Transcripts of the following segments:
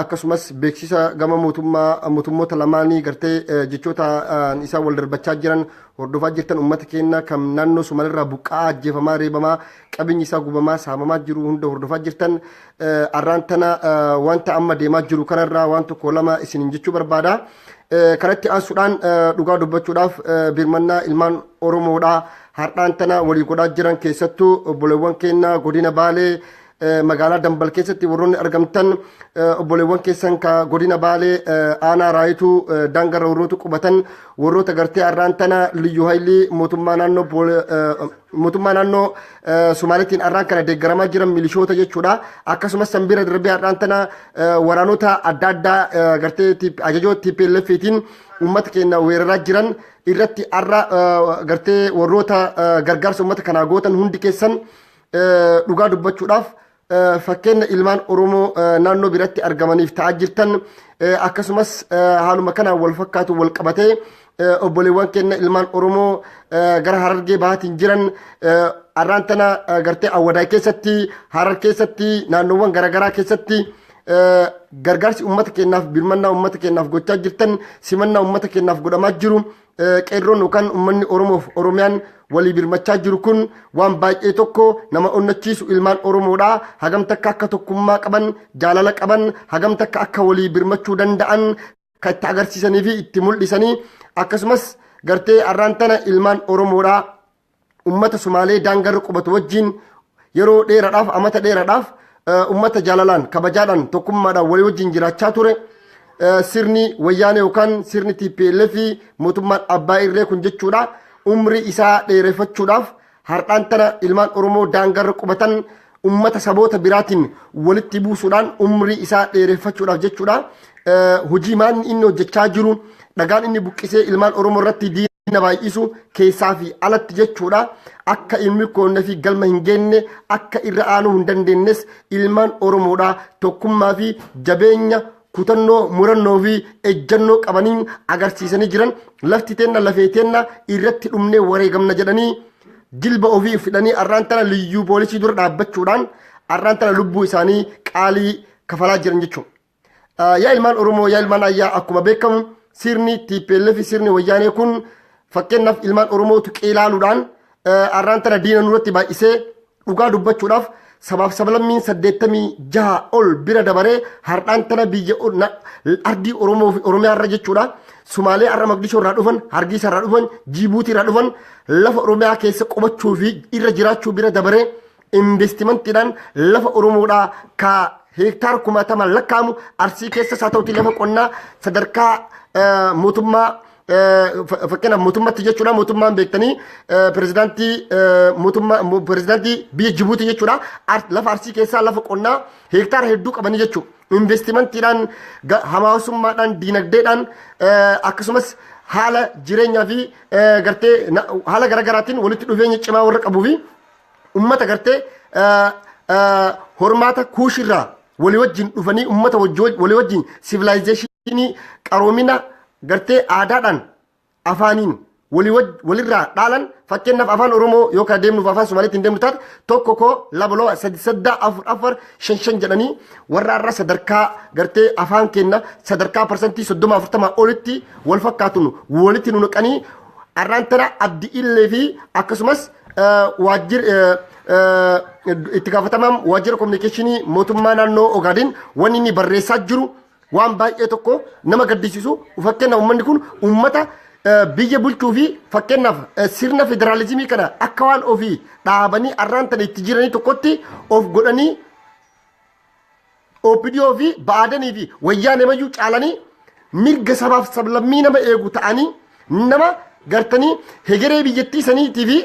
akkasumas beeksisa gama mootummaa mootummoota lamaanii gartee jechoota isaan wal darbachaa jiran hordofaa jirtan uummata keenya kan naannoo Somalirraa buqqa'aa ajjeefamaa reebamaa qabeenyi isaa gubamaa saamamaa jiru hunda hordofaa jirtan arraan tana wanta amma deemaa jiru kanarraa waan tokko lama isiniin jechuu barbaada. Kanatti aansuudhaan dhugaa dubbachuudhaaf birmannaa ilmaan Oromoodhaa har'aan tana walii godhaa jiran keessattuu obboleewwan keenya godina Baalee magaalaa Dambal keessatti warroonni argamtan obboleewwan keessan ka godina Baalee aanaa raayituu daangarra warrootu qubatan warroota gartee arraan tana liyyuu haylii mootummaa naannoo mootummaa naannoo Sumaaleetiin arraan kana deeggaramaa jiran milishoota jechuudha. Akkasumas sanbiira darbee arraan tana waraanota adda addaa gartee ajajoo TPLFtiin uummata keenya weeraraa jiran irratti arra gartee warroota gargaarsa uummata kanaa gootan hundi keessan dhugaa dubbachuudhaaf fakkeenya ilmaan Oromoo naannoo biratti argamaniif ta'aa jirtan akkasumas haaluma kanaan wal fakkaatu wal qabatee obboleewwan keenya ilmaan Oromoo gara harargee bahaatiin jiran arraan tana gartee awwadaa keessatti harar keessatti naannoowwan garaagaraa keessatti gargaarsi uummata keenyaaf birmannaa uummata keenyaaf gochaa jirtan simannaa uummata keenyaaf godhamaa jiru Qeerroon yookaan ummanni Oromoof Oromiyaan walii birmachaa jiru kun waan baay'ee tokko nama onnachiisu ilmaan Oromoodha. Hagam takka akka tokkummaa qaban, jaalala qaban, hagam takka akka walii birmachuu danda'an kan itti agarsiisanii fi itti mul'isanii akkasumas gartee arraan tana ilmaan Oromoodha Ummata Sumaalee daangarra qubatu wajjiin yeroo dheeradhaaf, amata dheeradhaaf ummata jaalalaan, kabajaadhaan, tokkummaadhaan walii wajjiin jiraachaa ture. Sirni wayyaanee yookaan sirni TPLF mootummaan abbaa irree kun jechuudha. Umrii isaa dheerefachuudhaaf har'aan tana ilmaan Oromoo daangarra qubatan ummata saboota biraatiin walitti buusuudhaan umrii isaa dheereeffachuudhaaf jechuudha. Hojii maanni inni hojjechaa jiru dhagaan inni buqqisee ilmaan Oromoo irratti na baay'isu keessaa fi alatti jechuudha akka hin milkoonne fi galma hin geenne akka irra aanuu hin dandeenyes ilmaan oromoodha tokkummaa fi jabeenya kutannoo murannoo fi ejjannoo qabaniin agarsiisanii jiran lafti teenna lafee teenna irratti dhumnee wareegamna jedhanii jilba ofii fidhanii arraan tana liyyuu poolisii dura dhaabbachuudhaan arraan tana lubbuu isaanii qaalii kafalaa jiran jechuudha. Yaa ilmaan Oromoo, yaa ilmaan Ayyaa akkuma beekamu sirni TPLF fi sirni wayyaanee kun fakkeenyaaf ilmaan Oromootu qeelaaluudhaan arraan tana diina nurratti baay'isee dhugaa dubbachuudhaaf sabaaf sablammiin saddeettamii jaha ol bira dabaree har'aan tana biyya ardii Oromoo fi Oromiyaa irra jechuudha. Sumaalee har'a Maqdishoo irraa dhufan, Hargiisa irraa dhufan, Jiibuutii irraa dhufan lafa Oromiyaa keessa qubachuu fi irra jiraachuu bira dabaree Investimantiidhaan lafa Oromoodhaa ka heektaara kumaatamaan lakkaa'amu Arsii keessas haa ta'uti lafa qonnaa sadarkaa eh, mootummaa eh, fa- fakkeenyaaf mootummatti jechuudha mootummaan beektanii eh, pirezidaantii eh, mootummaa mo- pirezidaantii biyya Jibuutii jechuudha Ar- lafa Arsii keessaa lafa qonnaa heektaara hedduu qabanii jechuudha. Investimantiidhaan ga- hawaasummaadhaan diinagdeedhaan eh, akkasumas haala jireenyaa fi eh, gartee na- haala garaagaraatiin walitti dhufeenya cimaa warra qabuu fi ummata gartee eh, eh, hormaata kuushirraa walii wajjin dhufanii ummata wajji- walii wajjin sivilaayizeeshinii qaroomina gartee aadaadhaan afaaniin walii waj- walirraa dhaalan fakkeenyaaf afaan oromoo yoo kana deemnuuf afaan somaaliitti hin deemnu taate tokko koo lama loo sadi saddaa afur afar shan shan jedhanii warra irra sadarkaa gartee afaan keenna sadarkaa parsantii soddoma afurtamaa olitti wal fakkaatun walitti nu naqanii arraan tana abdi illee fi akkasumas waajjir itti gaafatamaan waajjira kominikeeshinii mootummaa naannoo Ogaadeen wanni inni barreessaa jiru waan baay'ee tokko nama gaddisiisu fakkeenya uummanni kun uummata biyya bulchuu fi fakkeenyaaf sirna federaalizimii kana akka waan ofii dhaabanii arraan tana itti jiranii tokkotti of godhanii OPDO fi Ba'aadanii fi Wayyaanee mayyuu caalanii mirga sabaaf sablammii nama eegu ta'anii nama gartanii hegeree biyyattii saniitii fi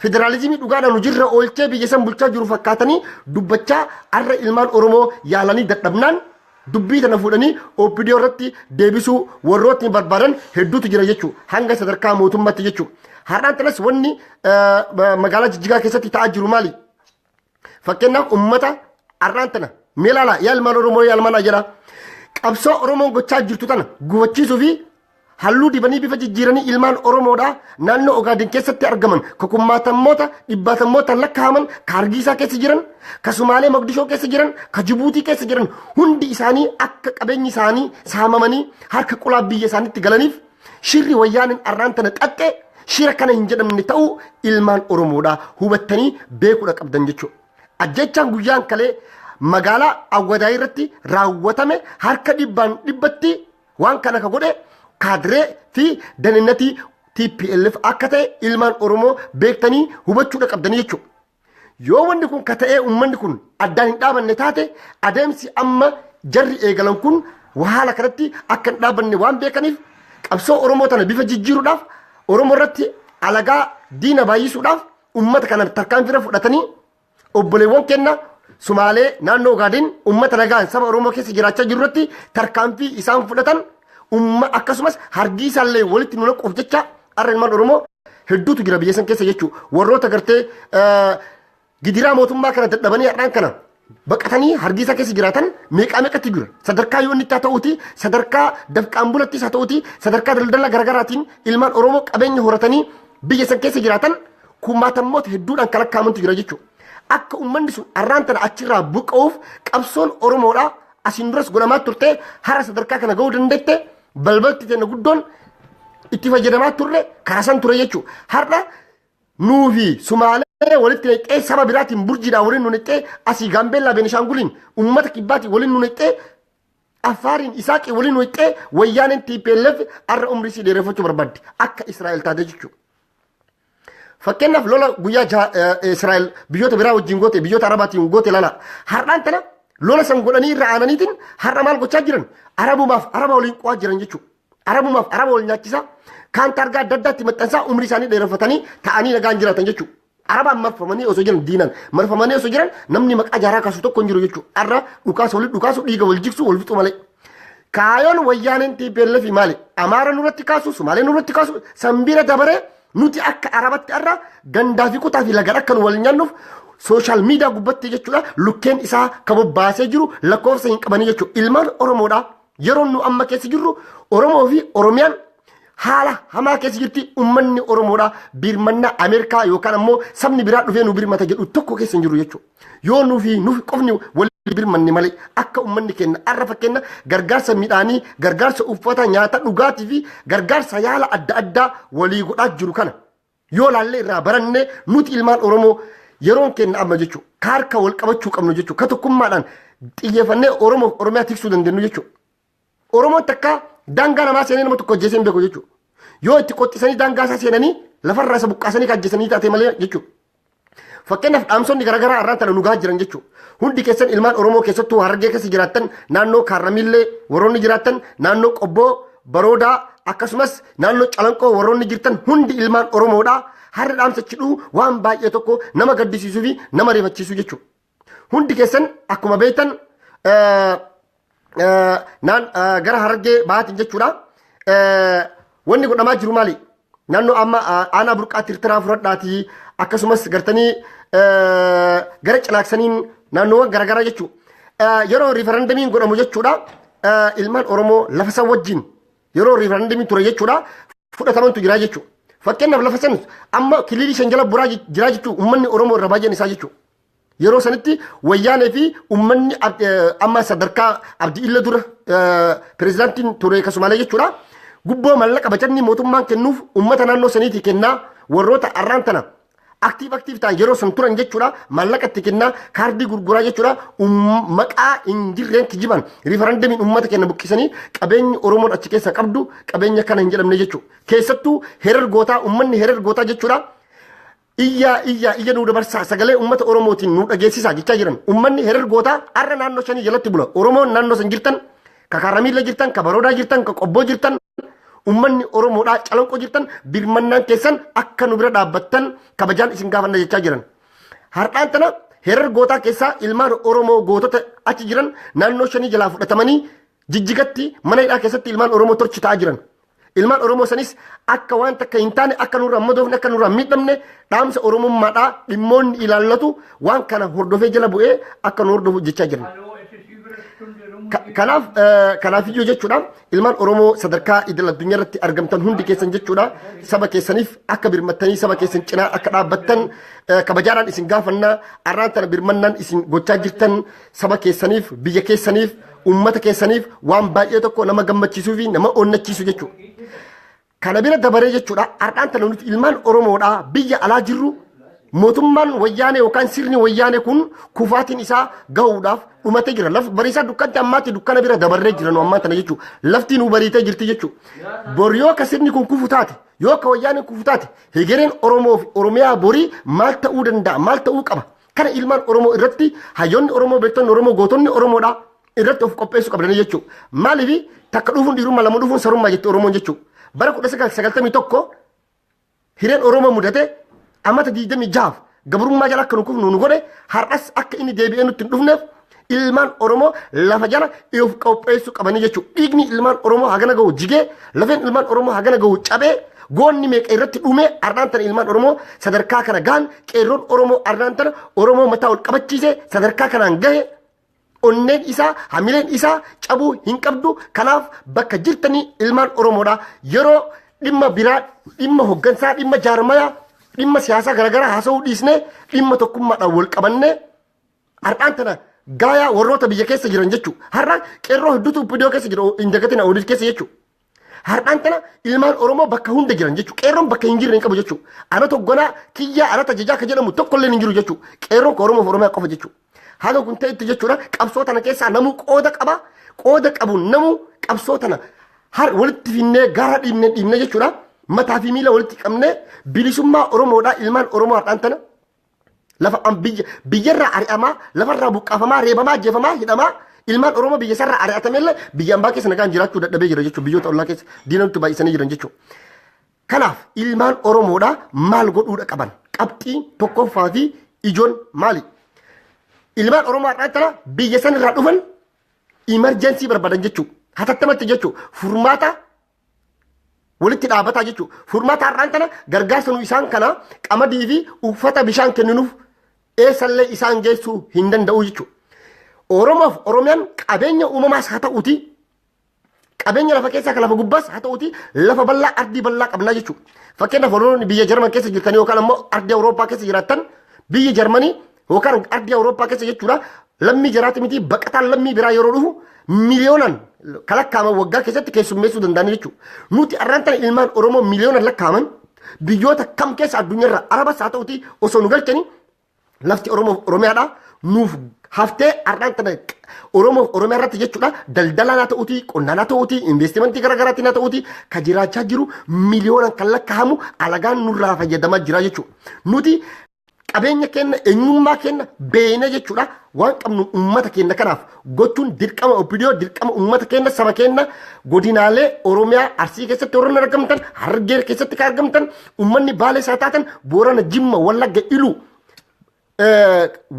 federaalizimii dhugaadhaan hojiirra oolchee biyya san bulchaa jiru fakkaatanii dubbachaa arra ilmaan Oromoo yaalanii dadhabnaan dubbii tana fuudhanii OPDO irratti deebisuu warrootni barbaadan hedduutu jira jechuu hanga sadarkaa mootummaatti jechuu. Har'aan tanas wanni eh, ma- magaalaa jijjigaa keessatti ta'aa jiru maali? Fakkeenyaaf uummata har'aan tana mee ilaala yaa ilmaan Oromoo yaa ilmaan Ajaraa qabsoo Oromoon gochaa jirtu tana gufachiisuu fi halluu dibanii bifa jijjiiranii ilmaan Oromoodhaa naannoo Ogaadin keessatti argaman ka kummaatammoota dhibbaatammoota lakkaa'aman ka Hargiisaa keessa jiran ka Sumaalee Moqdishoo keessa jiran ka Jibuutii keessa jiran hundi isaanii akka qabeenyi isaanii saamamanii harka qulaa biyya isaaniitti galaniif Shirri wayyaaneen arraan tana xaxxe shira kana hin jedhamne ta'uu ilmaan Oromoodha hubattanii beekuudha qabdan jechuudha. Ajjechaan guyyaan kalee magaalaa Awwadaa irratti raawwatame harka dhibbaan dhibbatti waan kana ka godhe kaadiree fi daninnatii TPLF akka ta'e ilmaan Oromoo beektanii hubachuudha qabdanii jechuudha. Yoo wanni kun ka ta'ee ummanni kun addaan hin dhaabanne taate adeemsi amma jarri eegalan kun haala kanatti akka hin dhaabanne waan beekaniif qabsoo Oromoo tana bifa jijjiiruudhaaf Oromoo irratti alagaa diina baay'isuudhaaf ummata kana tarkaanfiirra fudhatanii obboleewwan kenna Sumaalee naannoo Ogaadeen ummata nagaan saba Oromoo keessa jiraachaa jiru irratti tarkaanfii isaan fudhatan umma akkasumas hargii isaallee walitti nu naquuf jecha arra ilmaan Oromoo hedduutu jira biyya san keessa jechuu warroota gartee gidiraa mootummaa kana dadhabanii har'aan kana baqatanii hargiisaa keessa jiraatan meeqaa meeqatti jira sadarkaa yoo inni itti haa ta'uuti sadarkaa dafqaan bulattis haa ta'uuti sadarkaa daldala garaagaraatiin ilmaan oromoo qabeenya horatanii biyya san keessa jiraatan kumaatammoota hedduudhaan kan lakkaa'amantu jira jechuudha. Akka uummanni sun har'aan tana achirraa buqqa'uuf qabsoon oromoodhaa asiin duras godhamaa turte hara sadarkaa kana ga'uu dandeette Balbalti tenna guddoon itti fayyadamaa turre karaa san ture jechuudha. Har'a nuufi Sumaalee walitti naqxee saba biraatiin burjiidhaa waliin nu naqxee asii Gaambeellaa Beenishaanguliin uummata kibbaatiin waliin nu naqxee Affaariin Isaaqii waliin nu naqxee wayyaaneen TPLF har'a umrii sii dheereffachuu barbaaddi akka Israa'el taate jechuudha. Fakkeenyaaf lola guyyaa jaha eh, Israa'el biyyoota biraa wajjin goote biyyoota Arabaatiin goote lala. Har'aan tana lola san godhanii irra aananiitiin har'a maal gochaa jiran? Arabumaaf araba waliin qo'aa jiran jechuudha. Arabumaaf araba wal nyaachisaa kaan targaa adda addaatti maxxansaa umrii isaanii dheereffatanii ta'anii nagaan jiraatan jechuudha. Arabaan marfamanii osoo jiran diinan marfamanii osoo jiran namni maqaa jaaraa kaasu tokko hin jiru jechuudha. Har'a dhukaasa walitti dhukaasu dhiiga wal jigsu wal fixu malee. Kaayoon wayyaaneen TPLF maali? Amaara nurratti kaasu, Sumaalee nurratti kaasu, sanbiira dabaree nuti akka Arabatti irra gandaa fi kutaa fi lagan akka nu wal nyaannuuf sooshaal miidiyaa gubbatti jechuudha lukkeen isaa kan bobbaasee jiru lakkoofsa hin qabanii jechuudha. Ilmaan Oromoodha. Yeroon nu amma keessa jirru Oromoo fi Oromiyaan haala hamaa keessa jirti ummanni Oromoodha birmannaa Ameerikaa yookaan ammoo sabni biraa dhufee nu birmata jedhu tokko keessa hin jiru jechuudha. Yoo nuufi nuuf qofni walii birmanne malee akka ummanni kenna arra fakkenna gargaarsa midhaanii, gargaarsa uffata, nyaata, dhugaatii fi gargaarsa yaala adda addaa walii godhaa jiru kana. Yoo laallee irraa barannee nuti ilmaan Oromoo yeroon kenna amma jechuudha. Ka harka wal qabachuu qabnu jechuudha. Ka tokkummaadhaan xiyyeeffannee Oromoof Oromiyaa tiksuu dandeenyu jechuudha. Oromoon takka daangaa namaa seenee nama tokko ajjeesee hin beeku jechuudha. Yoo itti qottisanii daangaa isaa seenanii lafarraa isa buqqaasanii kan ajjeesanii taatee malee jechuudha. Fakkeenyaaf dhaamsonni garaagaraa har'aan tana nu gahaa jiran jechuudha. Hundi keessan ilmaan Oromoo keessattuu Harargee keessa jiraattan naannoo Kaarramiillee warroonni jiraattan naannoo Qobboo Baroodaa akkasumas naannoo Calanqoo warroonni jirtan hundi ilmaan Oromoodha. Har'a dhaamsa chidhuu waan baay'ee tokko nama gaddisiisuu fi nama rifachiisu jechuudha. Hundi keessan akkuma beektan eh, eh, naan eh, gara harargee bahaatiin jechuudha. Eh, Wanni godhamaa jiru maali? Naannoo amma eh, aanaa burqaa tirtiraa fudhadhaatii akkasumas gartanii eh, gara cinaaksaniin naannoowwan garaagaraa jechuudha. Eh, Yeroo riifarandamiin godhamu jechuudha eh, ilmaan Oromoo lafa san wajjin yeroo riifarandamiin ture jechuudha fudhatamantu jira jechuudha. Fakkeenyaaf lafa san amma kililii shan jala buraa jira jechuudha uummanni Oromoo irra baay'een isaa jechuudha. Yeroo sanitti wayyaanee fi uummanni ab- eh, amma sadarkaa abdi illa dura eh, pirezidaantiin ture kasumaalee jechuudha. Gubboo mallaqa bajanni mootummaan kennuuf uummata naannoo saniitii kennaa warroota arraan tana aktiif aktiif ta'an yeroo san turan jechuudha. Maallaqa itti kennaa kaardii gurguraa jechuudha. Umm- Maqaa hin jirreen kijiban riifarandamiin uummata kenna buqqisanii qabeenyi Oromoon achi keessa qabdu qabeenya kana hin jedhamne jechuudha. Keessattuu herar gootaa uummanni herar gootaa jechuudha. Iyyaa iyyaa iyya nuu dabarsaa sagalee ummata Oromootiin nuu dhageessisaa jechaa jiran. Ummanni herer gootaa har'a naannoo shanii jalatti bula. Oromoon naannoo san jirtan, ka Kaaramiilla jirtan, ka Baroodaa jirtan, ka Qobboo jirtan, ummanni Oromoodhaa calanqoo jirtan birmannaan keessan akka nu bira dhaabbattan kabajaan isin gaafanna jechaa jiran. Har'aan tana herer gootaa keessaa ilmaan Oromoo gootota achi jiran naannoo shanii jalaa fudhatamanii jijjigatti mana hidhaa keessatti ilmaan Oromoo torchi ta'aa jiran. Ilmaan Oromoo sanis akka waan takka hin taane akka nurraa madoofne akka nurraa miidhamne dhaamsa Oromummaadhaa dhimmoonni ilaallatu waan kana hordofee jala bu'ee akka nu hordofu jechaa jiran. Ka- Kanaaf eh, kanaaf iyyuu jechuudha ilmaan Oromoo sadarkaa idil addunyaa irratti argamtan hundi keessan jechuudha saba keessaniif akka birmattanii saba keessan cinaa akka dhaabbattan eh, kabajaadhaan isin gaafanna arraan tana birmannaan isin gochaa jirtan Saba keessaniif, biyya keessaniif, uummata keessaniif waan baay'ee tokko nama gammachiisuu fi nama onnachiisu jechuudha. Kana bira dabaree jechuudha har'aan tana nuti ilmaan Oromoodhaa biyya alaa jirru mootummaan wayyaanee yookaan sirni wayyaanee kun kufaatiin isaa gahuudhaaf dhumatee jira. Laf bariisaa dukkanti ammaatti dukkana bira dabarree jira nu ammaan tana jechuudha. Laftiin nu bariitee jirti jechuudha. Bor yoo akka sirni kun kufu taate yoo akka wayyaaneen kufu taate hegereen Oromoo fi Oromiyaa borii maal ta'uu danda'a maal ta'uu qaba. Kana ilmaan Oromoo irratti hayyoonni Oromoo beektonni Oromoo gootonni Oromoodha irratti of qopheessuu qabdanii jechuu. Maaliif takka dhufuun dhiirummaa lama dhufuun sarummaa jette Oromoon jechuu. Bara 1991 hireen Oromoo mudate amata 26f gabrummaa jala akka nu kufnu nu godhe har'as akka inni deebi'ee nutti hin dhufneef ilmaan Oromoo lafa jala of qopheessuu qabanii jechuudha. Dhiigni ilmaan Oromoo hagana gahu jigee, lafeen ilmaan Oromoo hagana gahu cabee, goonni meeqa irratti dhumee arnaan tana ilmaan Oromoo sadarkaa kana gahan qeerroon Oromoo arnaan tana Oromoo mataa ol qabachiisee sadarkaa kanaan gahe onneen isaa hamileen isaa cabuu hin qabdu kanaaf bakka jirtanii ilmaan Oromoodha yeroo dhimma biraa dhimma hoggansaa dhimma jaarmayaa dhimma siyaasaa garaagaraa haasa'uu dhiisnee dhimma tokkummaadhaan wal qabannee Har'aan tana gaayaa warroota biyya keessa jiran jechuu. Har'a qeerroo hedduutu iddoo keessa jira hin dagatina oodid keessa jechuu. Har'aan tana ilmaan Oromoo bakka hunda jiran jechuu. Qeerroon bakka hin jirre hin qabu jechuu. Ana toggonaa kiyyaa ana tajajaa akka jedhamu tokkolleen hin jiru jechuu. Qeerroon ka Oromoof Oromiyaa qofa jechuu. Haga kun ta'etti jechuudha qabsoo tana keessaa namuu qooda qaba. Qooda qabuun namuu qabsoo tana har walitti finnee gaara dhiibnee dhiibnee jechuudha. Mataa fi miila walitti qabnee bilisummaa Oromoodhaa ilmaan Oromoo har'aan tana Lafa an biyya biyyarraa ari'amaa, lafarraa buqqaafamaa, reebamaa, ajjeefamaa, hidhamaa, ilmaan Oromoo biyya isaarraa ari'atamellee biyya ambaa keessa nagaan jiraachuu dadhabee jira jechuudha. Biyyoota ollaa keessa diina nutti baay'isanii jiran jechuudha. Kanaaf ilmaan Oromoodha maal godhuudha qaban? Qabxii tokkoffaa fi ijoon maali? Ilmaan Oromoo har'aa tana biyya sanirraa dhufan imarjensii barbaadan jechuudha. Hatattamatti jechuudha. Furmaata walitti dhaabataa jechuudha. Furmaata har'aan tana gargaarsa nu isaan kana qamadii fi uffata bishaan kenninuuf eessallee isaan geessuu hin danda'u jechuudha. Oromoof Oromiyaan qabeenya uumamaas haa ta'uuti qabeenya lafa keessaa kan lafa gubbaas haa ta'uuti lafa bal'aa ardii bal'aa qabnaa jechuudha. Fakkeenyaaf Oromoonni biyya Jarman keessa jirtan yookaan ammoo ardii Awurooppaa keessa jiraattan biyyi Jarmanii Yookaan ardii Awurooppaa keessa jechuudha lammii jaraati miti baqataan lammii biraa yeroo dhufu miliyoonaan kan lakkaa'aman waggaa keessatti keessummeessuu danda'an jechuudha. Nuti arraan tana ilmaan Oromoo miliyoonaan lakkaa'aman biyyoota kam keessa addunyaarra arabas haa ta'uti osoo nu galchanii lafti Oromoof Oromiyaadha nuuf haftee arraan tana Oromoof Oromiyaa irratti jechuudha daldalaan haa ta'uti qonnaan haa ta'uti investimentii garaagaraatiin haa ta'uti kan jiraachaa jiru miliyoonaan kan lakkaa'amu alagaan nurraa fayyadamaa jira jechuudha. Nuti qabeenya kenna eenyummaa kenna beeyna jechuudha waan qabnu uummata kenna kanaaf gochuun dirqama opidiyoo dirqama uummata kenna saba kenna godinaalee oromiyaa arsii keessatti warroon argamtan harargee keessatti kan argamtan uummanni baalee isaa taatan boorana jimma wallagga iluu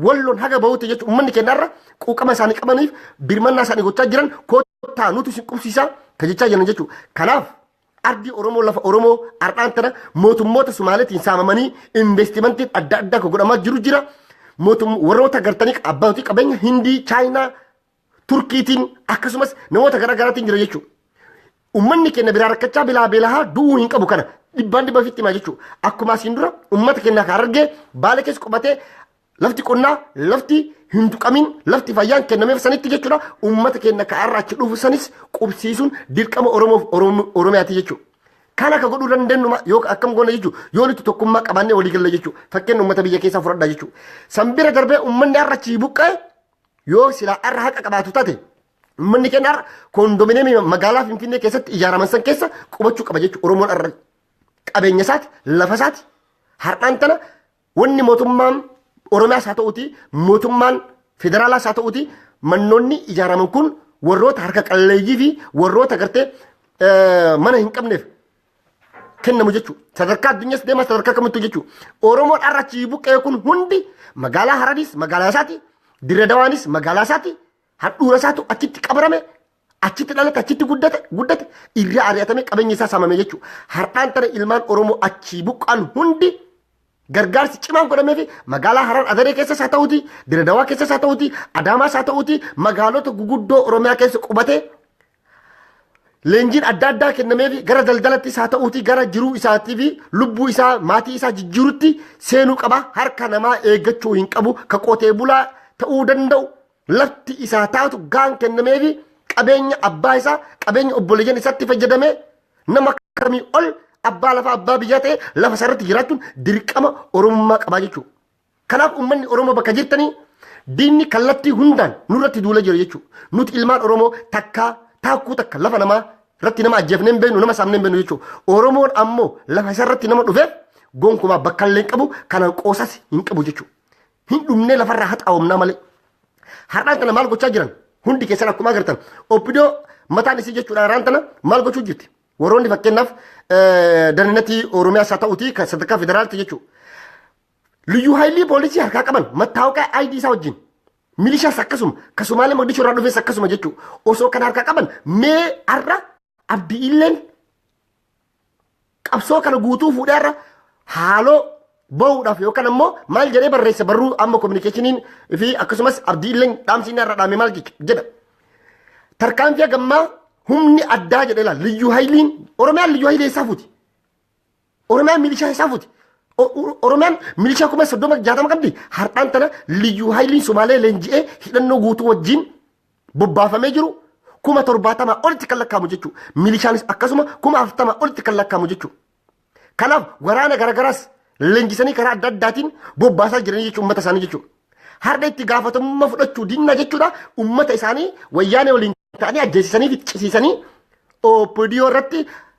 walloon haga bahuuti jechuun uummanni keenyarra quuqama isaanii qabaniif birmannaa isaanii gochaa jiran kottaa nuti isin qubsiisaa kan jechaa jiran jechuudha. Kanaaf Ardi Oromoo lafa Oromoo har'aan tana mootummoota Sumaaleetiin saamamanii investimentiin adda addaa kan godhamaa jiru jira. Mootum warroota gartanii abbootii qabeenya Hindii, Chaayinaa, Turkiitiin akkasumas namoota garaa garaatiin jira jechuudha. Uummanni keenya biraa rakkachaa bilaa beelahaa du'uu hin qabu kana dhibbaan dhibba ofitti himaa jechuudha. Akkuma asiin dura uummata keenya kan argee baala keessa qubatee Lafti qonnaa lafti hin tuqamin lafti fayyaan kennameef sanitti jechuudha. Uummata keenya ka'aarraa achi dhufu sanis qubsiisuun dirqama Oromoof Oromo- Oromiyaati jechuudha. Kan akka godhuu dandeenyu ma- yoo akkam goona jechuudha. Yoo nuti tokkummaa qabaannee walii galla jechuudha. Fakkeenya uummata biyya keessaa fudhadhaa jechuudha. San bira darbee uummanni har'a achii buqqa'e yoo silaa har'a haqa qabaatu taate uummanni keenya har'a koondomineemii magaalaa Finfinnee keessatti ijaaraman san keessa qubachuu qaba jechuudha. Oromoon har'a qabeenya isaati, lafa isaati, har'aan tana Wanni mootummaan Oromiyaas haa ta'uti mootummaan federaalaas haa ta'uti mannoonni ijaaraman kun warroota harka qalleeyyii fi warroota gartee mana hin qabneef kennamu jechuudha. Sadarkaa addunyaas deemaa sadarkaa kamittuu jechuudha. Oromoon har'a achii buqqee kun hundi magaalaa Harariis magaalaa isaati, Dirredawaanis magaalaa isaati, handhuura isaatu achitti qabarame achitti dhalate achitti guddate guddate irraa ari'atame qabeenya isaa saamame jechuudha. Har'aan tana ilmaan Oromoo achii buqqaan hundi gargaarsi cimaan godhamee fi magaalaa Harar Adaree keessas haa ta'uuti, Diradawaa keessas haa ta'uuti, Adaamaas haa ta'uuti magaalota guguddoo Oromiyaa keessa qubatee leenjiin adda addaa kennamee fi gara daldalattis haa ta'uuti gara jiruu isaatii fi lubbuu isaa maatii isaa jijjiirutti seenuu qaba harka namaa eeggachuu hin qabu ka qotee bulaa ta'uu danda'u lafti isaa taatu gaan kennameefi qabeenya abbaa isaa qabeenya obboleeyyan isaatti fayyadamee nama kamii ol abbaa lafaa abbaa biyyaa ta'e lafa isaarratti jiraachuun dirqama oromummaa qabaa jechuudha. Kanaaf uummanni Oromoo bakka jirtanii diinni kallattii hundaan nurratti duula jira jechuudha. Nuti ilmaan Oromoo takkaa taakkuu takka lafa namaa irratti nama ajjeefnee hin beeknu nama saamnee hin beeknu jechuudha. Oromoon ammoo lafa isaarratti nama dhufeef gonkumaa bakka illee hin qabu kanaan qoosas hin qabu jechuudha. hin dhumnee lafarraa haxaawamnaa malee. Har'aan tana maal gochaa jiran hundi keessan akkuma agartan obbidoo mataan isii jechuudha har'aan tana maal gochuu jirti. Warroonni fakkeenyaaf daninatii Oromiyaas haa ta'uuti kan sadarkaa federaalti jechuudha. Liyyuu haayilii poolisii harkaa qaban mattaawqaa ID isaa wajjin milishaas akkasuma kasumaalee maqdishoo irraa dhufes akkasuma jechuudha. Osoo kan harkaa qaban mee har'a Abdiilleen qabsoo kana guutuu fuudhee irra haaloo bahuudhaaf yookaan ammoo maal jedhee barreessa barruu amma kominikeeshiniin fi akkasumas abdiilleen dhaamsiin irra dhaame maal jedha. Tarkaanfii hagammaa humni addaa jedhee laal liyyuu hayiliin oromiyaan liyyuu hayilee isaa fuuti. Oromiyaan milishaa isaan fuuti. Oromiyaan milishaa kuma soddoma jaatama qabdi. Har'aan tana liyyuu haayiliin Somaalee leenji'ee hidhannoo guutuu wajjin bobbaafamee jiru kuma torbaatamaa olitti kan lakkaa'amu jechuudha. Milishaanis akkasuma kuma afurtamaa olitti kan lakkaa'amu jechuudha. Kanaaf waraana garagaraas leenjisanii karaa adda addaatiin bobbaasaa jiranii jechuudha uummata isaanii jechuudha. Har'a itti gaafatamummaa fudhachuu dinnaa jechuudha uummata isaanii wayyaanee waliin ta'anii ajjeesisanii fi cisiisanii OPDO irratti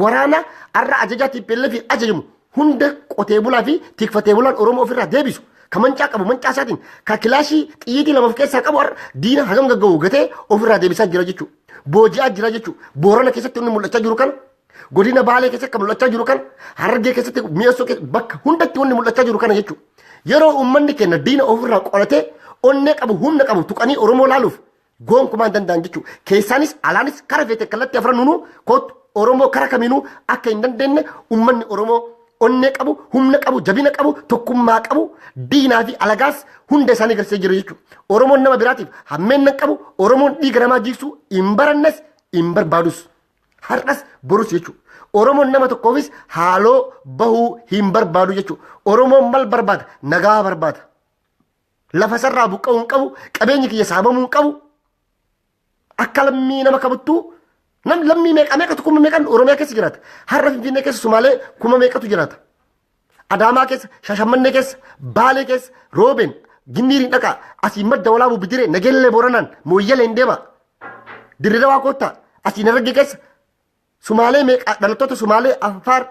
Waraana har'a ajajaa TPLF fi ajajamu hunda qotee bulaa fi tikfatee bulaan Oromoo ofirraa deebisu ka mancaa qabu mancaa isaatiin ka kilaashii xiyyiitii lama of keessaa qabu har'a diina hagam gagga'u gatee ofirraa deebisaa jira jechuudha. Booji'aa jira jechuudha. Boorana keessatti inni mul'achaa jiru kana godina Baalee keessatti kan mul'achaa jiru kana Harargee keessatti mi'eessoo keessatti bakka hundatti wanni mul'achaa jiru kana jechuudha. Yeroo uummanni keenya diina ofirraa qoratee onnee qabu humna qabu tuqanii Oromoo laaluuf Gonkumaa hin danda'an jechuudha. Keessaanis alaanis kara feete kallattii afran nunuu kootu Oromoo kara kamiinuu akka hin dandeenye uummanni Oromoo onnee qabu, humna qabu, jabina qabu, tokkummaa qabu, diinaa fi alagaas hunda isaanii garsee jiru jechuudha. Oromoon nama biraatiif hammeenna hin qabu, Oromoon dhiiga namaa jiigsuu hin barannes hin barbaadus. Har'as borus jechuudha. Oromoon nama tokkoofis haaloo bahuu hin barbaadu jechuudha. Oromoon mal barbaada? Nagaa barbaada. Lafa sarraa buqqa'uu hin qabu, qabeenyi kiyya saamamuu hin qabu. Akka lammii nama kabuttuu nam lammii meeqa meeqatu kuma meeqan Oromiyaa keessa jiraata. Har'a Finfinnee keessa Sumaalee kuma meeqatu jiraata. Adaamaa keessa, Shashammannee keessa, Baalee keessa, Roobeen, Ginniiriin dhaqaa, asii madda walaabuu bidiree, nageellee booranaan, mooyyalee hin deemaa. Dirree dawaa koottaa, asii naragge keessa, Sumaalee meeqa dhalattoota Sumaalee Anfaar